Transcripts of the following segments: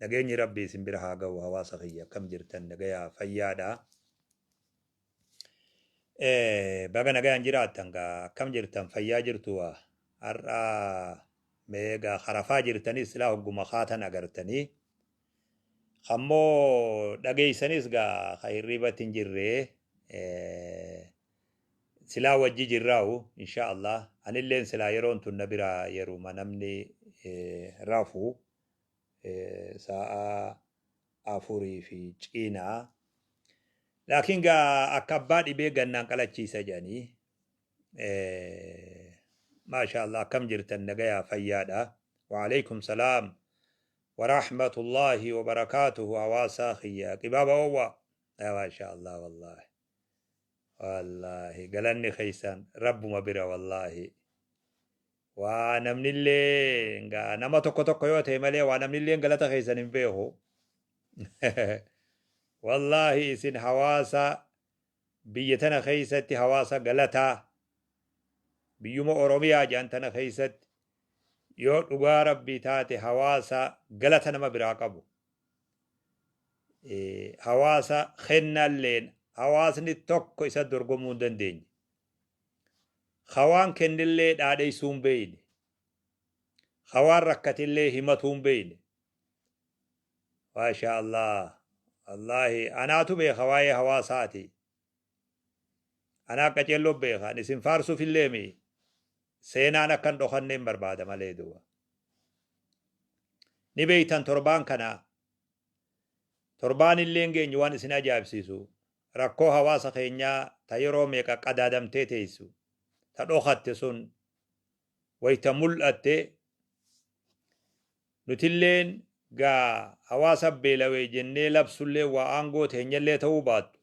Nageenyi rabbii isin bira haa gahu hawaasa kiyya akkam jirtan nagayaa fayyaadha baga nagayaan jiraattan gaa akkam jirtan fayyaa jirtu waa har'a meegaa karafaa jirtanis silaa hogguma kaatan agartanii kammoo dhageeysanis gaa ka hirribatti hin jirree silaa wajji jirraa'u insha Allah anilleen silaa yeroon tun na biraa yeruma namni rafu sa'a afurii fi ciina laakiin gaa akka abbaa dhibee gannaan qalachiisa jedhanii maashaallah akkam jirtan nagayaa fayyaadha waaleykum salaam waraahmatullaahi wabarakaatuhu hawaasaa kiyya qibaaba oowwa maashaallah wallaahi wallaahi galanni keessan rabbuma bira wallaahi Waa namnilleen gaa nama tokko tokko yoo ta'e malee waa namnilleen galata keessan hin beeku. Wallaahi isin hawaasa biyya tana keessatti hawaasa galataa biyyuma Oromiyaa jedhan tana keessatti yoo dhugaa rabbii taate hawaasa galata nama biraa qabu. Eh, Hawaasa kennalleen hawaasni tokko isa dorgomuu hin dandeenye. Ka waan kennellee dhaadheessuu hin beeyne. Ka waan rakkatellee himatuu hin beeyne. Maashaa Allah. Wallaahi anaatu beeka waa'ee hawaasaati. Anaa qaceelloo beeka. Ani isin faarsuufillee mi seenaan akka hin dhokanne hin barbaada malee duuba. Ni beeytan torbaan kana torbaan illee hin geenye waan isin ajaa'ibsiisu. Rakkoo hawaasa keenyaa ta yeroo meeqa qadaadamtee teessu, ta dhokatte sun wayta mul'atte, nutilleen ga hawaasa beelawe jennee labsulleen waa aangoo teenyallee ta'uu baattu,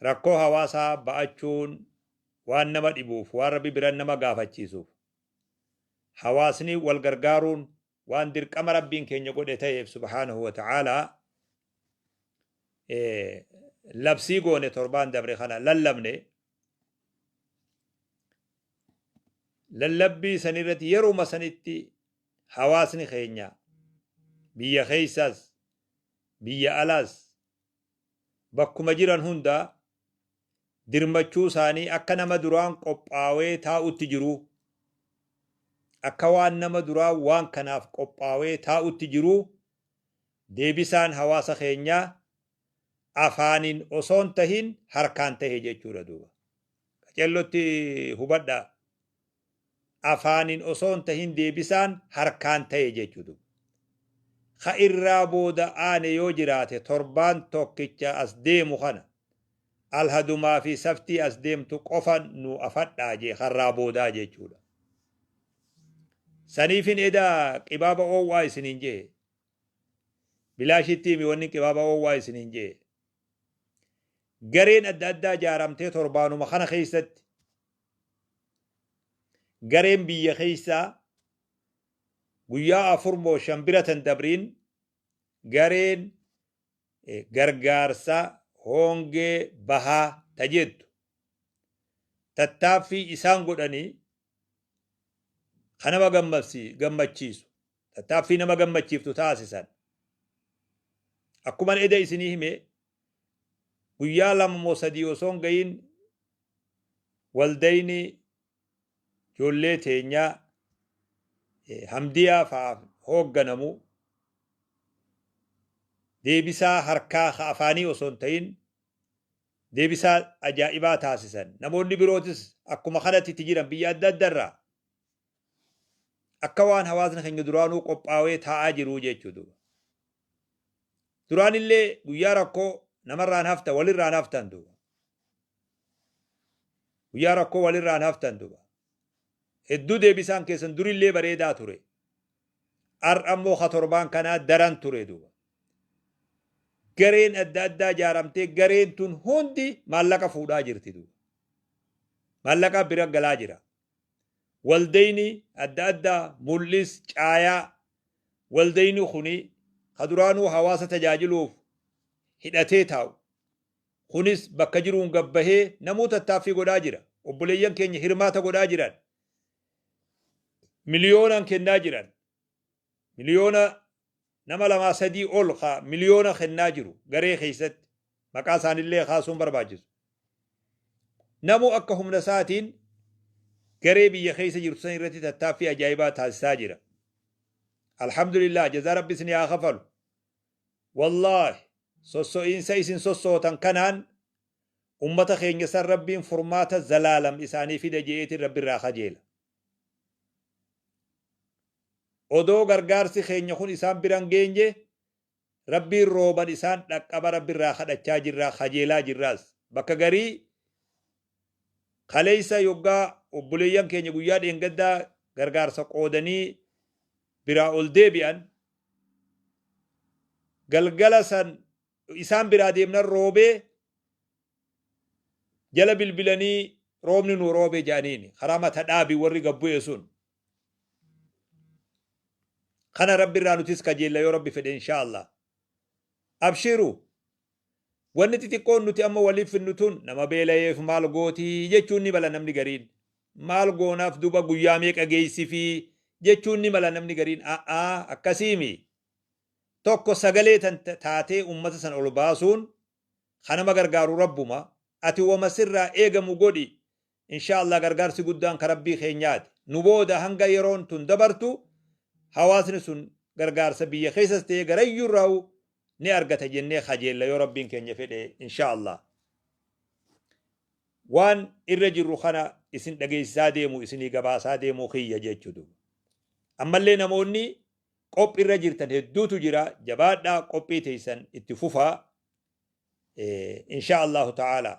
rakkoo hawaasaa ba'achuun waan nama dhibuuf, waan Rabbi biran nama gaafachiisuuf, hawaasni wal gargaaruun waan dirqama rabbiin keenya godhe ta'eef subhaanahu wa ta'aalaa labsii goone torbaan dabre kana lallabne lallabbii san irratti yeruma sanitti hawaasni keenya biyya keessaas biyya alaas bakkuma jiran hundaa dirmachuu isaanii akka nama duraan qophaawee taa'utti jiruu akka waan nama duraan waan kanaaf qophaawee taa'utti jiruu deebisaan hawaasa keenyaa afaaniin osoon tahin harkaan tahe jechuudha duuba. Qacellotti hubadhaa. afaanin osoo hin tahin deebisaan harkaan tahe jechuudha. Ka irraa booda aane yoo jiraate torbaan tokkicha as deemu kana alhadumaa fi saftii as deemtu qofa nu afadhaa jee ka irraa boodaa jechuudha. Saniifin eda qibaaba oowwaa isiniin jee. Bilaashitti himi wanni qibaaba oowwaa isiniin jee. Gareen adda addaa jaaramtee torbaanuma kana keessatti gareen biyya keessaa guyyaa afur moo shan bira tan dabriin gareen gargaarsa hoongee bahaa ta jettu tattaaffii isaan godhanii kan nama gammachiisu tattaaffii nama gammachiiftu taasisan akkuman eda isinii hime guyyaa lama moo sadii osoo hin ga'iin waldayni ijoollee teenyaa eh, hamdiyaa fa'aaf hoogganamu deebisaa harkaa ka afaanii osoo hin ta'in deebisaa ajaa'ibaa taasisan. Namoonni birootis akkuma kanatti itti jiran biyya adda addarraa Akka waan hawaasni keenya duraanuu qophaawee taa'aa jiruu jeechuu duuba. Duraanillee guyyaa rakkoo namarraan hafta walirraan haftan duuba. Guyyaa rakkoo walirraan haftan duuba. Hedduu deebisaan keessan durillee bareedaa ture. Har'a immoo ha torbaan kanaa daran ture duuba. Gareen adda addaa ijaaramtee gareen tun hundi maallaqa fuudhaa jirti duuba. Maallaqaa bira galaa jira. waldayni adda addaa mul'is caayaa waldayni kuni ka duraanuu hawaasa tajaajiluuf hidhatee taa'u kunis bakka jiruun gad bahee namuu tattaaffii godhaa jira. Obboleeyyan keenya hirmaata godhaa jiran. Miliyoonaan kennaa jiran. Miliyoona nama lamaa sadii ol ka miliyoona kennaa jiru garee keessatti maqaa isaanillee kaasuun barbaachisu. Namu akka humna isaatiin garee biyya keessa jirtu san irratti tattaaffii ajaa'ibaa taasisaa jira. Alhamdulillah jazaa rabbi isin haa kafalu. Wallaahi sosso'iinsa isin sossootan kanaan ummata keenya san rabbiin furmaata zalaalam isaanii fida je'eetiin rabbirraa kajeela. Odoo gargaarsi keenya kun isaan bira hin geenye, Rabbiin rooban isaan dhaqqaba Rabbi irraa kadhachaa jirra, kajeelaa jirraas. Bakka garii kaleessa yoggaa obboleeyyan keenya guyyaa dheengaddaa gargaarsa qoodanii biraa ol deebi'an, galgala san isaan biraa deemnan roobee, jala bilbilanii roobni nuu roobe jedhaniini karaa mata dhaabi warri gad bu'e sun kana rabbi irraa nutis kajeella yoo rabbi fedhe inshaa allah abshiru wanni xixiqqoon nuti amma waliif finnu tun nama beelayeef maal gooti jechuun ni mala namni gariin maal goonaaf duba guyyaa meeqa geessifi jechuun ni mala namni gariin a'aa akkasiimi tokko sagalee tan taatee ummata san ol baasuun Ka nama gargaaru Rabbuma. Ati woma sirraa eegamu godhi. Inshaa Allaah gargaarsi guddaan ka Rabbii keenyaati. Nu booda hanga yeroon tun dabartu hawaasni sun gargaarsa biyya keessas ta'ee garayyuurraa'u ni argata jennee kajeella yoo Rabbiin keenya fedhe inshaa Allaah. Waan irra jirru kana isin dhageessisaa deemu isinii gabaasaa deemuu kiyya jechuudha. Ammallee namoonni Qophi irra jirtan hedduutu jira jabaadhaa qophii teeysan itti fufaa inshaa Allaahu ta'aalaa.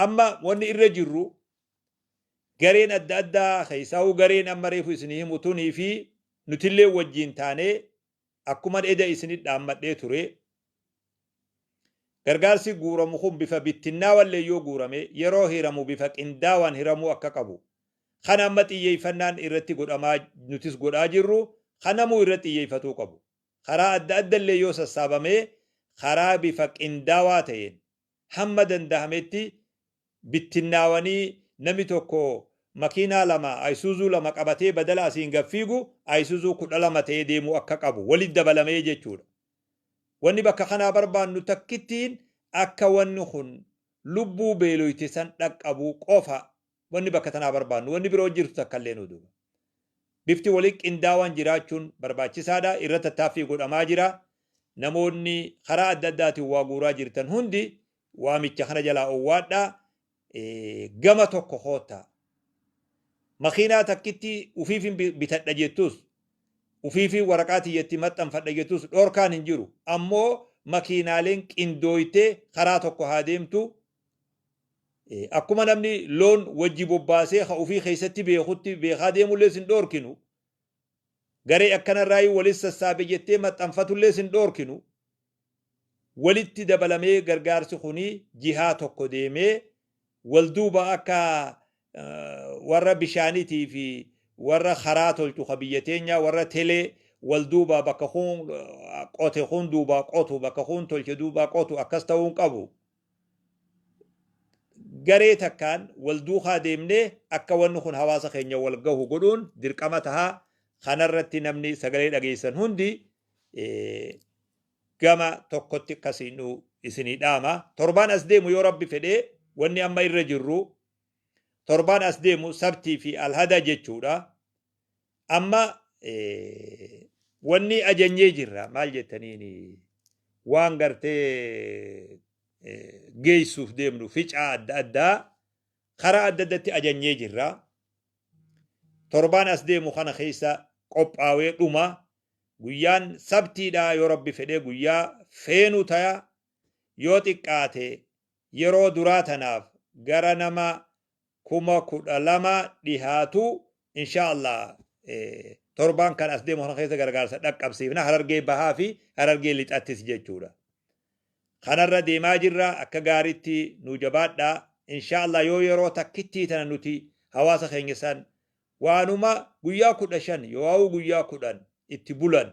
Amma wanni irra jirru gareen adda addaa keeysaahuu gareen amma reefu isinii himu tunii fi nutillee wajjiin taanee akkuman eda isinit dhaammadhee ture gargaarsi guuramu kun bifa bittinnaawallee yoo guurame yeroo hiramu bifa qindaawaan hiramuu akka qabu kan amma xiyyeeffannaan irratti godhamaa nutis godhaa jirru kan namuu irratti xiyyeeffatuu qabu. Karaa adda adda illee yoo sassaabamee karaa bifa qindaawaa ta'een hamma dandahametti bittinnaawanii nami tokko makiinaa lama Ayisuuzuu lama qabatee badala asiin gad fiigu Ayisuuzuu 12 ta'ee deemuu akka qabu walitti dabalamee jechuudha. Wanni bakka kanaa barbaannu takkittiin akka wanni kun lubbuu beeloyte san dhaqqabu qofa Wanni bakka tanaa barbaannu wanni biroo jirtu takka illee nu duuba. Bifti waliin qindaawaan jiraachuun barbaachisaa dha. Irratti tattaaffii godhamaa jira. Namoonni karaa adda addaatiin waa guuraa jirtan hundi waamicha kana jalaa owwaadhaa. Gama tokko koottaa. Makiinaa takkitti ufiifin bitadha jettus, ufiifin waraqaa tiyya itti maxxanfadha jettus dhorkaan hin jiru. Ammoo makiinaaleen qindooytee karaa tokko haa deemtu, Akkuma namni loon wajji bobbaasee ka ufii keessatti beekutti beekaa deemullee sin dhoorkinu, garee akkanarraayuu walit sassaabe jettee maxxanfatullee sin dhoorkinu, walitti dabalamee gargaarsi kuni jihaa tokko deemee wal duuba akka warra bishaanitii fi warra karaa tolchu ka biyya teenyaa warra telee wal duuba bakka kun qote kun duubaa qotu bakka kun tolche duubaa qotu akkas ta'uu hin qabu. garee takkaan wal duukaa deemnee akka wanni kun hawaasa keenya wal gahu godhuun dirqama taha. Kanarratti namni sagalee dhageessan hundi gama tokkotti akkasiin nu isinii dhaama. Torbaan as deemu yoo rabbi fedhee wanni amma irra jirru torbaan as deemu sabtii fi alhada jechuudha. Amma wanni ajanyee jirra maal jettaniin waan gartee geessuuf deemnu ficaa adda addaa karaa adda addatti ajanyee jirra. Torbaan as deemu kana keessa qophaawee dhuma guyyaan sabtiidhaa yoo rabbi fedhee guyyaa feenu taya yoo xiqqaate yeroo duraa tanaaf gara nama kuma kudha lama dhihaatu inshaa Allah torbaan kan as deemu kana keessa gargaarsa dhaqqabsiifna harargee bahaa fi harargee lixattis jechuudha. Kanarra deemaa jirra akka gaariitti nu jabaadha inshaa Allah yoo yeroo takkittii tana nuti hawaasa keenya san waanuma guyyaa kudha shan yoo'aawuu guyyaa kudhan itti bulan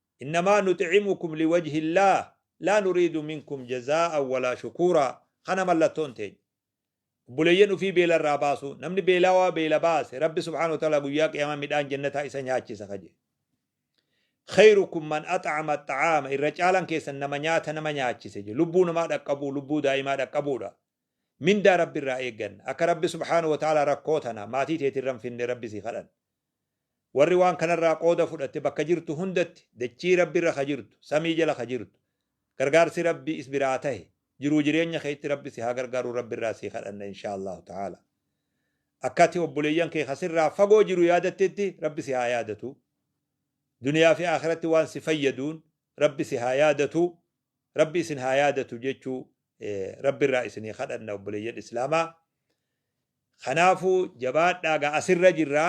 Innamaa nuxi'imukum liwajhillaah laa nuriidu minkum jazaa'an walaa shukuuraa Kana mallattoon teenya. Obboleeyyan ufii beela irraa baasuu. Namni beelawaa beela baase Rabbi subhaanahu wa ta'aalaa guyyaa qiyaamaa midhaan jannataa isa nyaachisa ka jedhe. Kheyrukum man ax'ama axxa'aama Irra caalan keessan nama nyaata nama nyaachise jedhe. Lubbuu namaa dhaqqabuu, lubbuu daa'imaa dhaqqabuudha. Mindaa Rabbi irraa eegganna. Akka Rabbi subhaanahu wa ta'aalaa rakkoo tana maatii teetirra hin finne Rabbi sii kadhanna. Warri waan kanarraa qooda fudhatte bakka jirtu hundatti dachii Rabbirra ka jirtu, samii jala ka jirtu, gargaarsi Rabbii is biraa tahe, jiruu jireenya keetti Rabbi si haa gargaaru Rabbirraa sii kadhanna inshaa Allaahu ta'aalaa. Akka ati obboleeyyan kee ka sirraa fagoo jiru yaadattetti Rabbi si haa yaadatu. Duniyaa fi aakhiratti waan si fayyaduun Rabbi si haa yaadatu, Rabbi isin haa yaadatu jechuu Rabbirraa isinii kadhanna obboleeyyan Islaamaa. Kanaafuu jabaadhaa egaa asirra jirra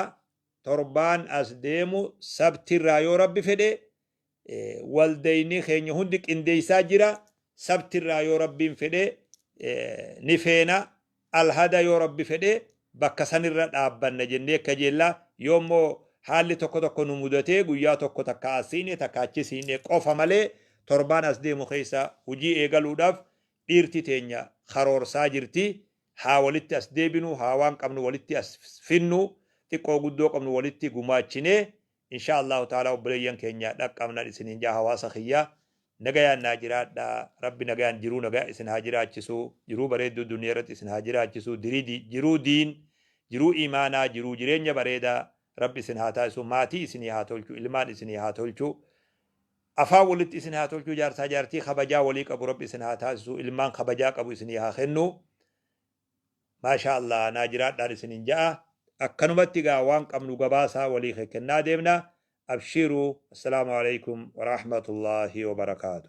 torbaan as deemu sabtirraa yoo rabbi fedhe waldayni keenya hundi qindeessaa jira sabtirraa yoo rabbiin fedhe ni feena alhada yoo rabbi fedhe bakka sanirra dhaabbanna jennee kajeella yoo immoo haalli tokko tokko nu mudatee guyyaa tokko takka asiine takka achisiine qofa malee torbaan as deemu keessa hojii eegaluudhaaf Dhiirti teenya karoorsaa jirti haa walitti as deebinu haa waan qabnu walitti as finnu xiqqoo guddoo qabnu walitti gumaachinee inshaa Allaahu ta'aalaa obboleeyyan keenya dhaqqabnan isiniin ja'a hawaasa kiyya nagayaan naa jiraadha rabbi nagayaan jiruu nagaya isin haa jiraachisu jiruu bareedduu duniya irratti isin haa jiraachisu dirii jiruu diin jiruu imaanaa jiruu jireenya bareeda rabbi isin haa taasisu maatii isinii haa tolchu ilmaan isinii haa tolchu Afaan walitti isin haa tolchuu jaarsaa jaartii kabajaa walii qabu rabbi isin haa taasisuu ilmaan kabajaa qabu isinii haa kennu maashaa allaah naa jiraadhaan isinin ja'a akkanumatti egaa waan qabnu gabaasaa walii kekkennaa deemna abshiiruu assalaamu aleykum waraahmatullaahi wabarakaatu.